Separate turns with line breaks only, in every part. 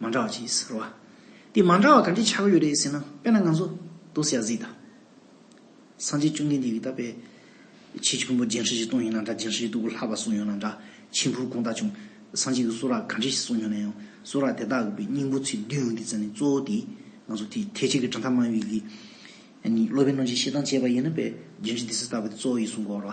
མ་འདྲ་བ་ཅི་ཟེར་བ། དེ་མ་འདྲ་བ་ག་འདྲའི་ཆགས་ཡོད་རེད་ཟེར་ན་དཔེར་ན་ང་ཚོ་རྡོ་སེ་ཡ་གཟིགས་དང། སངས་རྒྱས་བཅོམ་ལྡན་འདས་ཀྱིས་ད་པའི་ཆེ་བཞི་ཕུང་པོ་རྒྱན་ཧྲི་ཞིག་བཏོན་ཡོད་ན་འདྲ་རྒྱན་ཧྲི་ཞིག་སྟུག་པོ་ལྷག་པ་གསུངས་ཡོད་ན་འདྲ་ཕྱིས་འཕུར་གོང་ལྟ་བྱུང་སངས་རྒྱས་ཀྱི་གསུང་རག་ག་འདྲ་ཞིག་གསུངས་ཡོད་ན་ཡང་གསུང་རག་དེ་དག་གི་པའི་སྙིང་པོ་ཚིག་བདུན་ཡོང་དུས་ཙམ་ནས་གཙོ་བོ་དེ་ང་ཚོ་དེ་ཐེག་ཆེན་གྱི་དྲ་ཐག་མ་ཡོད་ཀྱི་ནི་སློབ་དཔོན་རྣམས་ཀྱིས་ཤེས་སྟངས་སྤྱད་པ་ཡིན་ན་པའི་རྒྱན་ཧྲི་དེ་སྲིད་ལྟ་བུ་དེ་གཙོ་བོ་ཡིན་གསུངས་དགོས་རོ།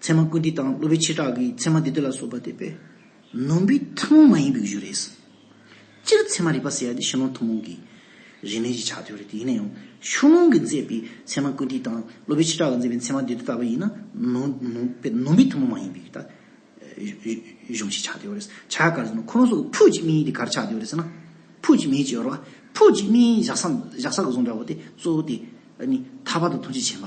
ཚད་མ་ཀུན་འདི་དང་སློབ་བུའི་ཆེ་གྲགས་ཀྱི་ཚད་མ་འདི་དོད་ལ་སོགས་པ་འདི་པས་ནོན་པའི་ཐུན་མོང་མ་ཡིན་པའི་གཞུ་རེད། སྤྱིར་ཚད་མ་རིག་པ་ཟེར་ཡ་དེ་ཕྱི་ནང་ཐུན་མོང་གི་རིས་མེད་ཀྱི་ཆ་དོད་རེད་དེ་ཡིན་ན་ཡང་ཕྱོགས་ལྷུང་གིས་མཛད་པའི་ཚད་མ་ཀུན་འདི་དང་སློབ་བུའི་ཆེ་གྲགས་ཀྱིས་མཛད་པའི་ཚད་མ་འདི་དོད་ལྟ་བུ་ཡིན་ན་ནོན་པའི་ཐུན་མོང་མ་ཡིན་པའི་གཞུང་ཞིག་ཆགས་དོད་རེད། ཆ་ག་རེ་ཟེར་ན་ཁོ་རང་སོགས་ཀྱི་ཕུགས་ཀྱི་དམིགས་ཡུལ་དེ་ག་རེ་ཆགས་དོད་རེད་ཟེར་ན་ཕུགས་ཀྱི་དམིགས་ཡུལ་ཅེས་པ་རོ། ཕུགས་ཀྱི་དམིགས་ཡུལ་བཞག་ས་བཞག་ས་ག་ཟུང་འདྲ་བོ་དེ་གཙོ་བོ་དེ་ནི་ཐར་པ་དང་ཐུགས་རྗེ་ཆེན་པ།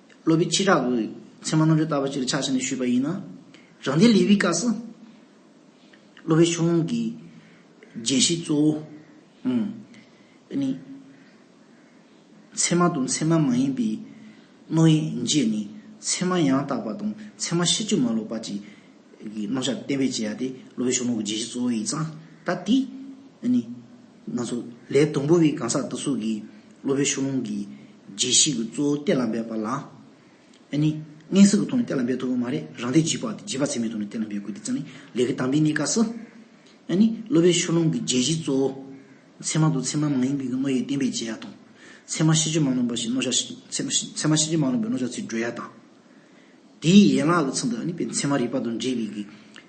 སློབ་པའི་ཕྱིར་བྲག་གི་མཚན་མ་རྣམ་བཞག་བཏབ་པ་ཅིར་ཆགས་ཞེ་ནས་ཞུས་པ་ཡིན་ན། རང་སྡེ་ལེ་ཝིའི་བཀའ་སུ། སློབ་པའི་ཕྱོགས་ལྷུང་གི་རྒྱན་བཞི་གཙོ་བོ། དེ་ནི། མཚན་མ་དང་མཚན་མ་མ་ཡིན་པའི་རྣོ་དབྱེ་བརྗེས་ནས་མཚན་མ་ཡང་དག་པ་དང་མཚན་མ་ཤེས་བཅུ་མ་ལོག་པ་གཅིག་གི་རྣམ་གཞག་གཏན་འབེབས་བྱེད་ཡ་དེ་སློབ་པའི་ཕྱོགས་ལྷུང་གི་རྒྱན་བཞི་གཙོ་བོ་ཡིན་ཙང་ད་དེ་ནི། ན་ཟུག་ལས་སྡོང་པོ་བའི་གང་ཟག་སྟག་གཟུགས་ཀྱི་སློབ་དཔོན་ཤོག་ལུང་གིས་རྗེས་གཞིག་གི་གཙོ་བོ་གཏེར་ལ་འབེབས་པ་ལ། ཨེ་ནི། དངན་སྲིད་ཀྱི་ཐོག་ནས་གཏེར་ལ་འབེབས་ཐུབ་པ་མ་རེད་རང་སྡེ་བརྗིད་པ་བརྗིད་པ་ཚད་མའི་ཐོག་ནས་གཏེར་ལ་འབེབས་དགོས་དེ་ཙམ་ལས་ལས་ཀྱི་དམ་པའི་གནས་སྐབས་སུ། ཨེ་ནི། སློབ་དཔོན་ཤོག་ལུང་གིས་རྗེས་གཞིག་གཙོ་བོ། ཚད་མ་དང་ཚད་མ་མ་ཡིན་པའི་རྣོ་ཡིག་བསྟན་པའི་བྱེད་ཡ་དང། ཚད་མ་ཤེས་བྱ་མ་རྣོན་པ་ཞིག་རྣོ་བྱ། ཚད་མ་ཤེས་བྱ་མ་རྣོན་པའི་རྣོ་བྱ་ཚིག་བགྲོས་ཡ་དང། དེའི་ཡན་ལག་གི་ཚུལ་དུ་ཨེ་ནི། ཚད་མ་རིག་པ་དང་འབྲེལ་བའི་གི།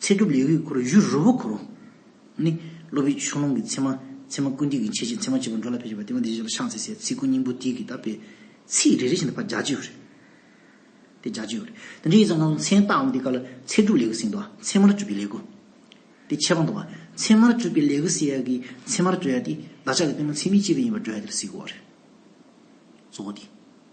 ཚེ་སྒྲུབ་ལེའུ་ཡི་འཁོར་བཞུགས་རི་བོ་འཁོར་ལོ། ནི། སློབ་བུའི་ཆོས་ལོངས་ཀྱི་མཚན་མ། མཚན་མ་ཀུན་བཏུས་ཀྱི་འཆད་བྱེད་མཚན་མ་བཅུ་པོ་འགྲོ་ལ་ཕེབས་བྱེད་པ་དེ་མ་དེ་བཞི་ལ་ཕྱག་འཚལ་སའི་ཚིག་ཀུན་སྙིང་པོ་དེ་གིས་དག་པའི། ཚིག་རེ་རེ་བཞིན་དུ་བར་བྱ་བྱེད་ཡོད། དེ་བྱ་བྱེད་ཡོད། དེ་འདྲའི་ཡིག་ཚང་སྣ་ཚོགས་མཚན་བཏགས་འོང་དེ་ཀ་ལ་ཚེ་སྒྲུབ་ལེའུ་གསེང་དུ་མཚན་མར་བཅུ་པའི་ལེའུ། དེ་ཁྱད་པར་འདུག་བ། མཚན་མར་བཅུ་པའི་ལེའུ་གསེ་ཡ་གི་མཚན་མར་བཅུ་ཡ་དེ་བདག་ཅག་གི་བསྟན་པ་མཚན་མིའི་སྤྱི་དོན་ཡིན་པར་བགྲོ་ཡ་དེར་གཟིགས་དགོས། གཙོ་བོ་དེ།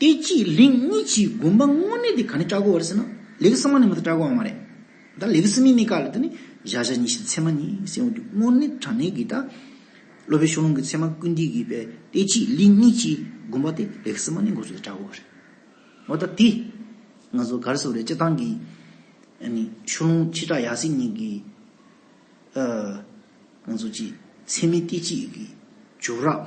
དེ་གཅིག་ལིང་གཉིས་ཀྱིས་བསྒོམ་པ་དངོས་གནས་དེ་ག་ནས་སྐྲག་གོ་བར་ཟེར་ན་ལེགས་གསང་བ་ནས་མ་ཏོག་སྐྲག་གོ་བ་མ་རེད། ད་ལེགས་གསང་མིན་མི་དཀའ་ལ་དེ་ནི་བཞག་བཞག་ཉིད་བཞིན་ཚད་མ་ཉིད་སེམས་འོད་དུ་དངོས་གནས་དྲང་གནས་ཀྱི་ད་སློབ་པའི་ཤོག་ལོང་གི་ཚད་མ་ཀུན་བསྡུས་ཀྱི་བས་དེ་གཅིག་ལིང་གཉིས་ཀྱིས་བསྒོམ་པ་དེ་ལེགས་གསང་མ་ནས་འགོ་ཚུགས་ཏེ་སྐྲག་གོ་བ་རེད། འོ་ད་དེ་ང་ཚོ་གར་སོ་རེད་སྤྱི་བཏང་གི་ཤོག་ལོང་ཁྱི་སྐྲག་ཡག་ཟིག་ཉིད་ཀྱི་ང་ཚོ་ཀྱི་ཚད་མའི་དེ་གཅིག་གི་བྱུ་རགས།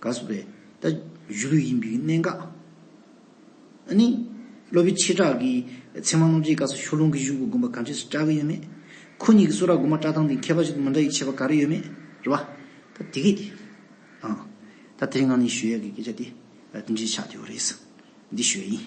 དགའ་བསུ་བས་ད་གཞུ་ལུས་ཡིན་པའི་གནད་འགག་ཨ་ནི། སློབ་བུའི་ཆེ་དྲག་གི་ཚེ་མང་རྣོ་རྗེའི་སྐབས་སུ་ཤོ་ལུང་གི་གཞུང་གི་དགོན་པ་ག་འདྲས་སུ་གྲགས་ཀྱི་ཡོད་མེད། ཁོ་གཉིས་ཀྱི་གསོ་ར་དགོན་པ་བཀྲ་ཐང་དེ་མཁས་པ་ཞིག་ཏུ་མི་འདྲ་ཡི་ཆེ་བ་ག་རེ་ཡོད་མེད་རེད་བ། ད་དེ་གས་ཨང། ད་དེ་རིང་ང་ནི་ཞུ་ཡས་ཀྱི་སྐད་ཆ་དེ་དེ་འདྲས་ཆགས་ཀྱི་ཡོད་རེད། འདི་ཞུ་ཡས་ཡིན།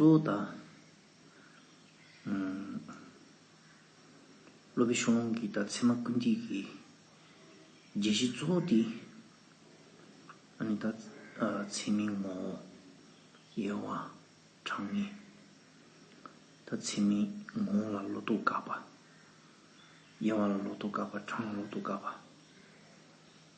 གཙོ་བོ་དང། སློབ་པའི་ཤོང་ལོང་གི་དང་ཚད་མ་ཀུན་བཏུས་ཀྱི། རྒྱལ་སྲིད་གཙོ་བོ་དེ། ཨ་ནི་དང། ཚད་མའི་ངོ་བོ། དབྱེ་བ། གྲངས་ངེས། དང་ཚད་མའི་ངོ་བོ་ལ་ལོ་ཏོག་བཀག་པ། དབྱེ་བ་ལ་ལོ་ཏོག་བཀག་པ་གྲངས་ལ་ལོ་ཏོག་བཀག་པ།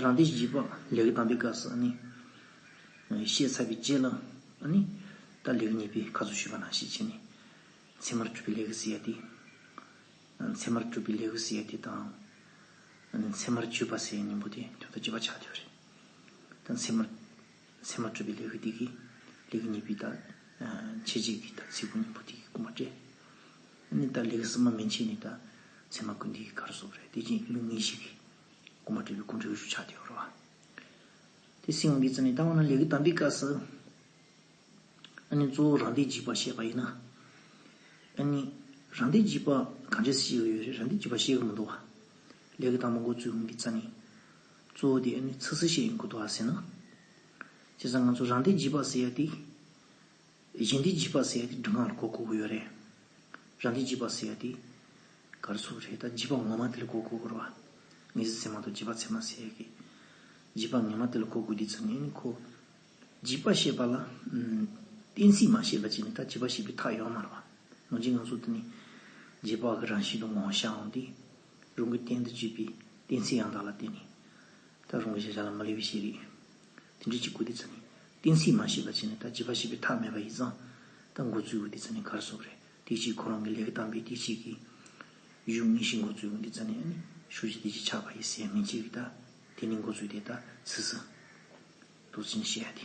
རང་སྡེ་བཞི་པ་ལེགས་བཏང་པའི་སྐབས་སུ་ནི། ཞེས་ཚ་བའི་རྗེས་ལ་ནི། ད་ལེགས་གཉིས་པའི་ཁ་ཚུགས་ཞུས་པ་ན་ཞེས་བྱས་ནས། མཚན་མར་གྲུབ་པའི་ལེགས་སུ་ཡལ་ཏེ། མཚན་མར་གྲུབ་པའི་ལེགས་སུ་ཡལ་ཏེ་དང། མཚན་མར་བརྗོད་པ་སའི་སྙིང་པོ་དེ་དོན་དུ་བགྱི་བར་བྱ་སྟེ། མཚན་མར། མཚན་མ་སྤྲོས་པའི་ལས་ཀྱི་སྡིག་གིས། ལས་ཀྱི་ཉེས་པའི་དག། བྱེད་བྱེད་ཀྱི་དག། ཚིག་ཀུན་སྙིང་པོ་སྡིག་གི་ཀུན་པར་བསྒྲེ། ནི་དག། ལས་ཀྱི་སྲིབ་མ་མན་ཆད་ནི་དག། མཚན་མ་ཀུན་སྡིག་གི་གར་སོགས་རེ། དེ་བཞིན་གླུ་ངེས་ཤིག་གིས། ཀུན་པར་བསྒྲེ་བའི་ཀུན་འགྲོའི་རུ་ཆག་དེའོ། རོ། དེ་སྲིད་དབང་གི་རྩལ་ནི་བཏང་བ་ན་ལས་ཀྱི་དམ་པའི་སྐབས་སུ། ནི་གཙོ་བོ་རང་སྡེ་འཇིགས་པར་བཤད་པ་ཡིན། ནི། རང་སྡེ་འཇིགས་པ་གང་འདྲའི་སྲིད་ཞིག་ཡོད་རེད། རང་སྡེ་འཇིགས་པ་ཤེས་ཀྱི་མི་འདུག་བ། ལས་ཀྱི་དམ་པ་འགོ་བཙུགས་དབང་གི་རྩལ་ནི། གཙོ་བོ་དེ་ཨེ་ནི་ཚིག་གསལ་བཤད་ཡིན་དགོས་དོགས་ཨ་ཟེར་ན། བྱས་ཙང་ང་ཚོ་རང་སྡེ་བརྗིད་པ་ཟེར་ཡ་དེ། གཞན་སྡེ་བརྗིད་པ་ཟེར་ཡ་དེ་སྒྲུང་ངག་ལ་གོ་གོ་གོ་ཡོད་རེད། རང་སྡེ་བརྗིད་པ་ཟེར་ཡ་དེ། གར་སོགས་རེད་ད་བརྗིད་པ་ངོ་མ་དེ་ལ་གོ་གོ་གོ་རོགས་ཨ། ངེས་ཟིན་ཚད་མ་གཏོགས་བརྗིད་པ་ཚད་མ་ཟེར་ཡ་གི། བརྗིད་པ་ངེས་མ་དེ་ལ་གོ་གོ་དེ་ཚོ་ནི་ཨེ་ནི་ཁོ། བརྗིད་པ་ཞེས་པ་ལ། གཏན་ཚིགས་མ་ཤེས་པ་གཅིག་ནི་ད་བརྗིད་པ་ཞེས་པའི་ཐག་ཡོད་མ་རེད་བ། ངོ་ཅི་ང་ཚོ་དེ་ནི། བརྗིད་པ་གི་རང་བཞིན་དུ་ངོ་ཤ་འོང་དེ། རང་གི་གཏན་དུ་གཅོད་པའི་གཏན་ཚིགས་ཡང་དག་ལ་བརྟེན་ནས། ད་རུང་གི་བྱ་བཞག་ལ་མ་ལུས་པའི་ཤེས་རིག། དེ་འབྲེལ་གྱི་གོ་བདེ་ཚུལ་ནི་གཏན་ཚིགས་མ་ཤེས་པ་བྱས་ནས་ད་བྱས་པ་བྱས་པའི་ཐག་མེད་པ་ཡིས་ཙང་ད་འགོ་ཚུལ་གོ་བདེ་ཚུལ་ནི་གར་སོང་བ་རེད་དེ་གཅིག་ཁོ་རང་གི་ལས་ཀ་དམ་པའི་དེ་གཅིག་གིས། གཞུང་དངོས་གཞི་འགོ་ཚུལ་གོ་བདེ་ཚུལ་ནི་ནི་ཤུགས་ཀྱིས་དེ་གཅིག་ཆགས་པ་ཡིས་ཟད་མི་འཇིག་རིགས་ད་དེ་ནི་འགོ་ཚུལ་དེ་ད་སུས་སུ། རྡོ་རྗེ་ནི་བཤད་ཡ་དེ།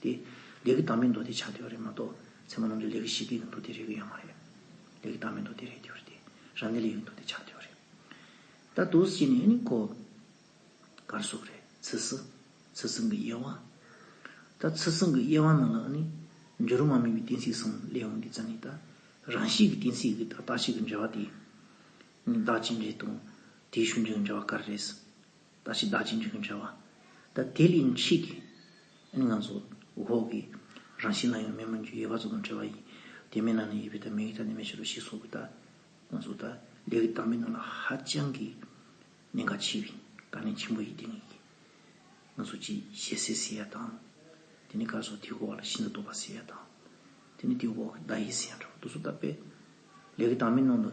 དེ། ལས་ཀྱི་བདག་མེད་མདོ་སྡེ་ཆགས་བསྡད་པ་རེད་མ་གཏོགས། ཚད་མ་རྣམ་འགྲེལ་ལས་ཀྱི་གཞི་སྡེ་གི་མདོ་སྡེ་རེག་གི་ཡོད་མ་རེད། ལས་ཀྱི་བདག་མེད་མདོ་སྡེ་རེག་གི་རེད་དེ། རང་གནས་ལས་ཀྱི་མདོ་སྡེ་ཆགས་བསྡད་པ་རེད། ད་དུ་ཞིག་ནས་ནི་གོ། གར་སོགས་རེད། ཚུལ་སྲིད། ཚུལ་སྲིད་གི་དབྱེ་བ། ད་ཚུལ་སྲིད་གི་དབྱེ་བ་ནང་ལ་ནི། འགྱུར་རུང་མ་དམིགས་པའི་གཏན་ཚིགས་གསུམ་ལས་འོངས་ཀྱི་ཙམ་ནི་ད། རང་བཞིན་གྱི་གཏན་ཚིགས་ཀྱི་ད་རྟགས་ཆད་ཀྱི་འབྲེལ་བ་དེ། བདག་ཅེས་འབྲེལ་དང། དེའི་ཤུགས་འབྱུང་འབྲེལ་བ་གར་རེད། ད་ཕྱིས་བདག་གཅིག་འཇུག་གིན་བྱ་བ། ད་དེ་ལས་མཆིས་ཏེ། ཨེ་ནི་ང་ཚོ་འོག་གི་རང་བཞིན་ན་ཡང་མེད་མོད་ཀྱི་ཡོད་པ་ཚོ་དང་བྲལ་བ་ཡིན། དེ་མེད་ན་ནི་ཡོད་པའི་ད་མིང་གི་ད་ནི་མེད་ཕྱིར་རོ་ཞེས་སོགས་ཀྱི་ད། ང་ཚོ་ད་ལས་ཀྱི་ད་མེད་ན་ལ་ཧ་ཅང་གི་གནད་འགག་ཆེ་བས་དཀའ་གནད་ཆེན་པོ་ཡིན་ཏེ་ངེད་ང་ཚོ་ཅི་བྱེད་ཟེར་ཟེར་ཡ་དང། དེ་ནི་ག་ཚོད་དེའི་འོག་ལ་ཤིན་ཏུ་དོགས་པ་ཟེར་ཡ་དང། དེ་ནི་དེའི་འོག་གི་ད་ཡིན་ཟེར་ཡ་འདྲ་བོ་འདུག་ཚོ་ད་དཔེ་ལས་ཀྱི་ད་མེད་ནང་དུ།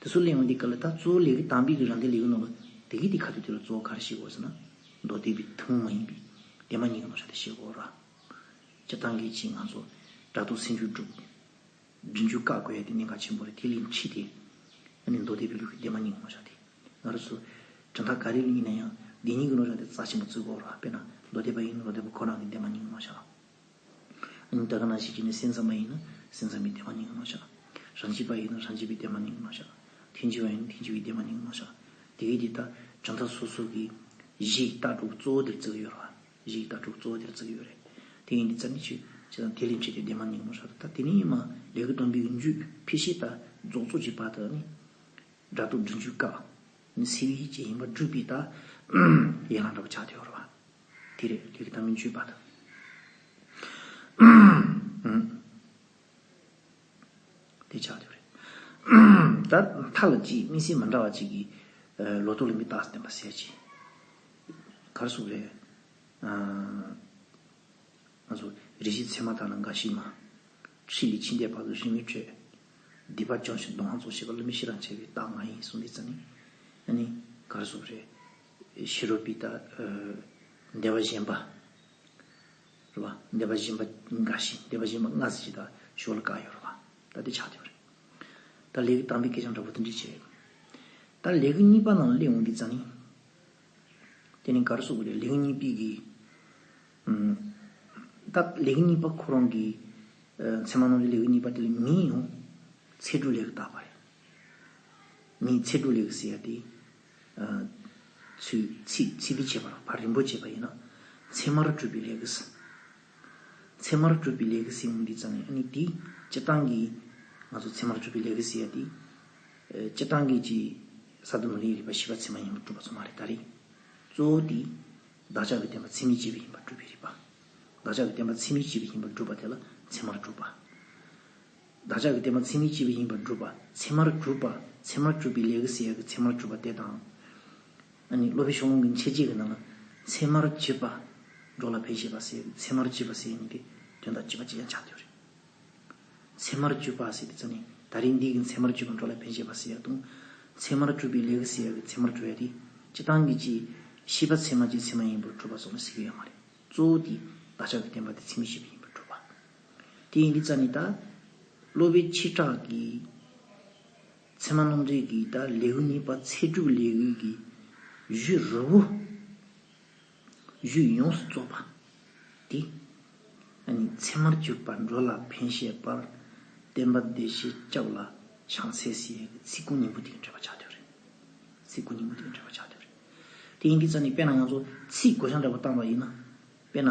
དེ་ཚོ་གླེང་བ་འདི་ག་ལ་ད་གཙོ་བོ་ལས་ཀའི་གཏམ་དཔེ་གི་རང་འགན་ལས་ཀའི་ནང་དུ་དེ་གའི་དེ་ག་དེ་དེ་ལ་གཙོ་བོ་ག་རེ་བྱེད་དགོས་ཟེར་ན། མདོ་སྡེ་པའི་ཐུན་མོང་མ་ཡིན་པའི་དེ་མ་གཉིས་ཀ་ནོར་བྱ་དེ་བྱེད་དགོས་ར། སྤྱིར་བཏང་གི་ཆེས་ང་ཚོ་སྒྲ་དོག་སེམས་འགྱུ་འགྲུབ། རྒྱུན་འགྱུ་བཀག་དགོས་ཡ་དེ་གནད་འགག་ཆེན་པོ་རེད་དེ་གླེང་ཁྲིད་དེ། ཨ་ནི་མདོ་སྡེ་པའི་ལུགས་ཀྱི་དེ་མ་གཉིས་ཀ་ནོར་བྱ་དེ། ང་རོ་ཚོ། དྲི་མཐའ་ག་རེ་ལ་ཡིན་ན་ཡང་དེ་གཉིས་ཀ་ནོར་བྱ་དེ་རྩ་ཆེན་པོ་བརྩི་དགོས་ར་དཔེར་ན་མདོ་སྡེ་པ་ཡིན་ན་མདོ་སྡེ་པ་ཁོ་རང་གི་དེ་མ་གཉིས་ཀ་ནོར་བྱ། ཨིན། བདག་གི་ན་ཞིག་གིས་ནི་སེམས་ཙམ་པ་ཡིན་ན་སེམས་ཙམ་པའི་བདེ་བ་ནི་མངོན་ནོ་བྱ། རང་བྱིས་པ་ཡིན་ན་རང་བྱིས་པའི་བདེ་བ་ནི་མངོན་ནོ་བྱ། ཐུན་འཆི་བ་ཡིན་ན་ཐུན་འཆི་བའི་བདེ་བ་ནི་མངོན་ནོ་བྱ། དེ་གིས་དེ་ལྟར་བྱང་ཐབས་སོ་སོ་གིས། གཞི་ཡི་རྟགས་དྲུག་གཙོ་བོ་འདིར་བརྩི་གི་ཡོད་རོ། གཞི་ཡི་རྟགས་དྲུག་གཙོ་བོ་འདིར་བརྩི་གི་ཡོད་རེད། དེ་ཡིན་དུས་ཙམ་གྱིས་འཆི། འཆི་དང་དེ་ལས་འཆི་དེ་བདེ་བ་ནི་མངོན་ནོ་བྱ། ད་དེ་ནི་ཡིན་མ་ལས་གུ་དོན་བུའི་རྒྱུད་ཕལ་ཤེས་དག་རྫོགས་ཚོགས་ཀྱི་བར་དུ་ནི། སྒྲ་རྟོག་སྒྲིབ་འཇུག་བཀག། ནི་སེལ་བའི་ཡིད་བྱེད་ཡིན་པར་སྒྲུབ་པའི་རྟགས། ཡན་ལག་འདྲ་བར་ཆགས་དེ་ཡོད་རོ། དེ་རེད་དེ་གི་ད་མི་འཇུས་པ་དང། དེ་ཆགས་རྒྱུ་རེད། ད་མཐའ་ལ་གཅིག་དམིགས་བསལ་མ་འདྲ་བ་གཅིག་གིས་ལོ་ཏོག་ལ་མི་བརྟགས་བསྟན་པ་གསལ་བྱེད། གར་སོགས་རེད། ང་ཚོ་རེ་ཞིག་ཚད་མ་དག་ན་འགའ་ཞིག་མ། ཁྲིད་ལས་ཕྱི་འདས་བར་དུ་རིན་མི་སྤྲོད། སྡིག་པ་སྦྱོང་ཞིང་སྡོང་ཧང་བཙོག་བྱེད་པ་བླུན་མི་ཤེས་རང་བྱས་པའི་རྟགས་མ་ཡིན་གསུངས་འདི་རྩ་ནི། གར་སོགས་རེད། ཤི་རོ་པི་ཏཱ། བདེ་བ་གཞན་པ། རེད་བ། བདེ་བ་གཞན་པ་འགའ་ཞིག་བདེ་བ་གཞན་པ་ལྔ་ཟེར་གྱི་ད་ཞོར་ལ་བཀག་ཡོད་རེད་བ། ད་དེ་ཆགས་ཐུབ་རེད། ད་ལས་ཀྱི་དམ་པའི་སྐད་ཆའང་འདྲ་པོ་འདི་འདྲས་བྱས་ཡོད། ད་ལས་ཀྱི་གཉིས་པ་ནང་ལ་སླེབས་འོང་གི་རྫ་ནི། དེ་ནི་ག་རེ་བཟོ་དགོས་རེད་ལས་ཀྱི་གཉིས་པའི་གི། ད་ལས་ཀྱི་གཉིས་པ་ཁོ་རང་གི། མཚན་མ་ནང་གི་ལས་ཀྱི་གཉིས་པ་དེ་ལ་མིའི་ཡང། ཚེ་སྒྲུག་ལས་ཀྱི་བཏགས་པ་རེད། མིའི་ཚེ་སྒྲུག་ལས་ཀྱི་ཟེར་ཡ་དེ། ཚུལ་ཚིག་ཚིག་འདི་བྱེད་པར་བར་རིམ་པོ་བྱེད་པ་ཡིན་ནོ། ཚད་མར་སྤྲུལ་པའི་ལེགས་སེ། ཚད་མར་སྤྲུལ་པའི་ལེགས་སེ་ཡོང་འདི་ཙམ་ཡིན་ཨ་ནི་དེ་སྤྱི་བཏང་གིས་ང་ཚོ་ཚད་མར་སྤྲུལ་པའི་ལེགས་སེ་ཡ་དེ་སྤྱི་བཏང་གིས་ཀྱི་ས་དུ་མ་ལས་རིག་པ་བཞི་པ་ཚད་མ་ཡིན་པར་སྤྲུལ་པ་ཚོ་མ་རེད་ད་རེད། གཙོ་བོ་དེ། བདག་ཅག་གི་བསྟན་པ་ཚད་མའི་སྤྱི་བོ་ཡིན་པར་སྤྲུལ་པའི་རིག་པ། བདག་ཅག་གི་བསྟན་པ་ཚད་མའི་སྤྱི་བོ་ཡིན་པར་སྒྲུབ་པ་དེ་ལ་ཚད་མར་སྤྲུལ་པ། བདག་ཅག་གི་དེ་མ་ཚིག་ནི་སྤྱི་བའི་ཡིན་པར་སྒྲུབ་པ་ཚད་མར་གྱུར་པ་ཚད་མར་གྱུར་པའི་ལས་ཀྱི་སྲིད་ཡག་གི་ཚད་མར་གྱུར་པ་དེ་དང། ཨཱ་ནི་སློབ་པའི་ཤོག་ལོང་གི་མཆེད་བྱེད་ཀྱི་ནང་ན་ཚད་མར་བྱེད་པ། འགྲོ་ལ་ཕན་བྱེད་པ་སྲིད་ཡག་གི་ཚད་མར་བྱེད་པ་སྲིད་ཡག་གཉིས་ཀའི་དོན་དང་བཅས་པ་ཅི་ཡང་ཆགས་ཐུབ་རེ། ཚད་མར་གྱུར་པ་སྲིད་ཡག་གི་ཚད་ནི་ད་རེས་འདི་གི་ཚད་མར་གྱུར་པ་འགྲོ་ལ་ཕན་བྱེད་པ་སྲིད་ཡག་དང། ཚད་མར་གྱུར་པའི་ལས་ཀྱི་སྲིད་ཡག་གི་ཚད་མར་གྱུར་ཡག་དེ་སྤྱི་དང་གི་སྤྱི། ཤེས་པ་ཚད་མ་སྤྱི་ཚད་མ་ཡིན་པར་སྒྲུབ་པ་སོགས་ལ་སྲིད་ཡག་ཡོད་མ་རེད། གཙོ་བོ་དེ་བདག་ཅག་གི་བསྟན་པ་དེ་ཚིག་ནི་སྤྱི་བའི་ཡིན་པར་སྒྲུབ་པ། དེ་ཡིན་གྱི་རྩ་ནི་ད་གློ་བའི་ཕྱིར་སྐྲག་གི། མཚན་མ་སྣོམ་འདོད་ཀྱི་ད་ལེའུ་ནི་པ་ཚེ་དྲུག་ལེའུའི་གི། བཞུད་རོལ་བོ། བཞུད་ཡོངས་སུ་རྫོགས་པ། དེ་ནི་མཚན་མར་གྱུར་པ་འགྲོ་ལ་ཕན་ཞེས་པར་བསྟན་པ་བདེ་གཤེགས་སྐྱབས་ལ་བྱང་སེ་སི་ཡའི་གི་ཚིག་ཀུན་སྙིང་པོ་དེ་ཡིན་འདྲེས་པ་ཆགས་འདོད་རེད། ཚིག་ཀུན་སྙིང་པོ་དེ་ཡིན་འདྲེས་པ་ཆགས་འདོད་རེད། དེ་ཡིན་གྱི་རྩ་ནི་དཔེར་ན་ཡང་ཚོ་ཚིག་གོ་བྱང་འདྲ་བོ་བཏང་བ་ཡིན་ན་དཔེར་ན།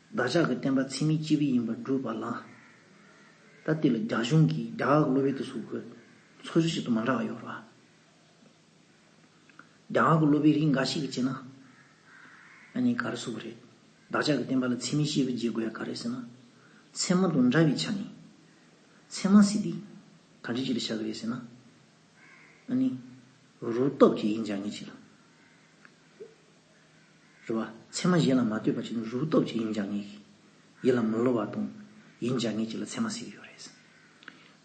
བདག་ཅག་གི་བསྟན་པ་འཚེ་མེད་སྤྱི་བའི་ཡིན་པར་སྒྲུབ་པ་ལགས། ད་དེ་ལ་རྒྱ་གཞུང་གིས་རྒྱ་ཨག་གློ་བོའི་དུ་སུག་གི་འཚོ་བཞུགས་ཞིག་ཏུ་མ་འདྲ་བ་ཡོད་རོགས། རྒྱ་ཨག་གི་གློ་བོའི་རིགས་འགའ་ཞིག་གིས་བྱས་ན། ཨ་ནི་ག་རེ་སུ་གི་རེད། བདག་ཅག་གི་བསྟན་པ་ལ་འཚེ་མེད་སྤྱི་བའི་རྗེས་དགོས་ཡ་ག་རེད་ཟེར་ན། ཚད་མ་དང་འདྲ་བའི་ཆ་ནས། ཚད་མ་ཟེར་དུས་ག་འདྲི་ཅིག་ལ་བྱ་གི་རེད་ཟེར་ན། ཨ་ནི། རུ་སྟོབས་ཀྱིས་ཡིན་སྦྱང་ངེས་ཅིག་ལ། རེ་བ། མཚན་མ་གཞན་ལ་མ་ལྟོས་པ་བྱིན་ནོ་རུ་སྟོབས་ཀྱིས་ཡིན་བྱ་ངེས་ཤིང། ཡིད་ལ་མི་སློབ་བ་དང། ཡིན་བྱ་ངེས་ཀྱི་ལ་མཚན་མ་གཟིགས་ཡོད་རེད།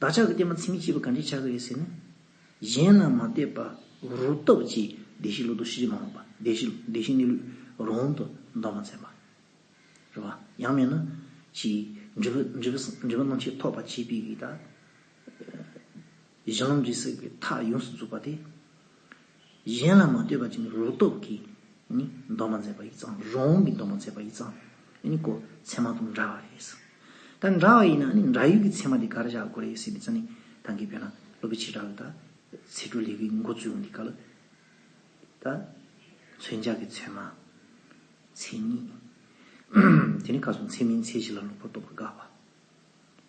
བདག་ཅག་གི་བསྟན་པ་མཚན་མི་གཅིག་པ་ག་འདྲས་ཆགས་ཀྱི་རེད་ཟེར་ན། གཞན་ལ་མ་ལྟོས་པ་རུ་སྟོབས་ཀྱིས་བདེ་གཤེགས་ལུགས་དང་ཤེས་རིག་མ་འོངས་པ། བདེ་གཤེགས་གནས་ལུགས་རང་དབང་དུ་འདོར་མ་མཛད་པ། རེ་བ། ཡང་མེད་ན། ཞེས། འདྲི་བ་རྣམས་ཆེས་ཐོགས་པ་བྱས་པའི་རིགས་དང། གཞན་གྱིས་བསྲེགས་པའི་མཐའ་ཡོངས་སུ་རྫོགས་པ་དེ། གཞན་ལ་མ་ལྟོས་པ་ཅན་རོ་སྟོབས་ཀྱིས་འདོན་པར་མཛད་པ་ཡི་གཙང། རོང་བོང་གིས་འདོན་པར་མཛད་པ་ཡི་གཙང་ནི་གོ། ཚད་མ་དང་འདྲ་བ་རེད། ད་འདྲ་བ་ཡིན་ན་འདྲ་ཡུལ་གྱི་ཚད་མ་དེ་ག་རེ་བཞག་དགོས་རེད་ཟེར་བའི་རྩ་ནི་ཐང་གའི་བོད་ན་སློབ་པའི་བྱེ་བྲག་ལ་ད་ཚེ་སྒྲུབ་ལས་ཀྱི་འགོ་བཙུགས་ཡོང་དུས་ག་ལ། ད་མཚོན་བྱ་གི་ཚོད་མ། མཚན་ཉིད། དེ་ནི་ཁ་སང་མཚན་མིན་ཚད་གཞི་ལ་ལོག་པར་རྟོག་པར་དགའ་བ།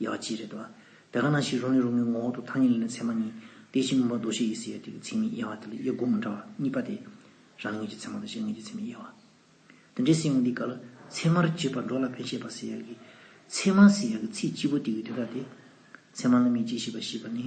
ཡག་བགྱིས་རེད་དོ། བད་ག་ན་ཞིག་རོ་ནི་རོ་ངའི་ངོ་འོག་ཏུ་ཐ་སྙད་ལེན་ནི་ཚད་མ་གཉིས་ཏེ་གཅིག་མུན་པ་རྡོ་ཞེས་དབྱི་སི་ཡ་ཏིག་གི་ཚིག་མིང་དབྱེ་བ་དེ་ལ་དབྱེ་སྒོ་མི་འདྲ་བ་གཉིས་པ་སྟེ། རང་ཉིད་ཀྱི་ཚད་མ་དང་གཞན་ངེས་ཀྱི་ཚད་མའི་དབྱེ་བ། དེ་འདྲའི་སེམས་ངོ་འདི་ག་ལ་ཚད་མར་བརྗོད་པར་འགྲོ་ལ་བན་ཤེས་པ་སི་ཡ་གི་ཚད་མ་སི་ཡ་གི་ཚིག་སྤྱི་བོ་ཏིག་གི་དོན་རྟགས་ཏེ། ཚད་མ་ལ་མི་འཇིགས་ཤེས་པ་ཞེས་པ་ནི།